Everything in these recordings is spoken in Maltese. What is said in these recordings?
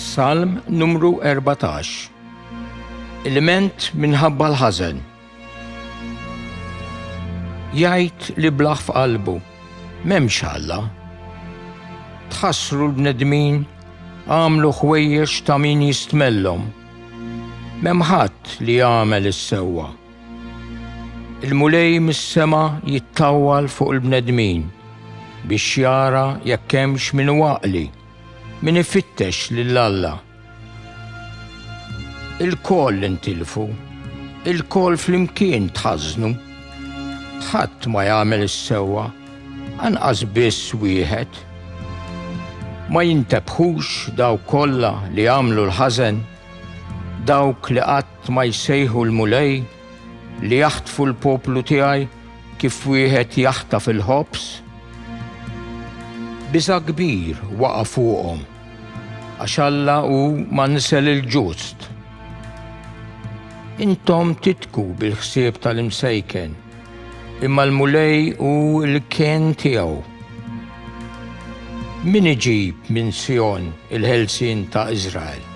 Salm numru 14 Ilment minħabba l-ħażen Jgħid li blaħ f'qalbu m'hemmx Alla. Tħassru l-bnedmin għamlu ħwejjeġ ta' min jistmellhom. M'hemm ħadd li jagħmel is-sewwa. Il-Mulej mis-sema jittawwal fuq il-bnedmin biex jara jekk hemmx min hu għaqli, min ifittex lil Alla. Ilkoll intilfu, ilkoll flimkien tħażnu. Ħadd ma jagħmel is-sewwa, anqas biss wieħed. Ma jintebħux dawk kollha li jagħmlu l-ħażen, dawk li qatt Tma jsejħu l-Mulej li jaħtfu l-poplu tiegħi kif wieħed jaħtaf il-ħobż? Biża' kbir waqa' fuqhom, għax Alla hu mansel il-ġust. Intom titku bil-ħsieb tal-imsejken. Imma l-Mulej hu l-kien tiegħu. Min iġib minn Sijon il-ħelsien ta' Iżrael?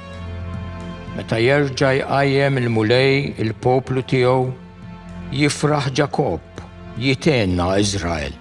Meta jerġa' jqajjem il-Mulej il-poplu tiegħu, jifraħ Ġakobb, jithenna Iżrael.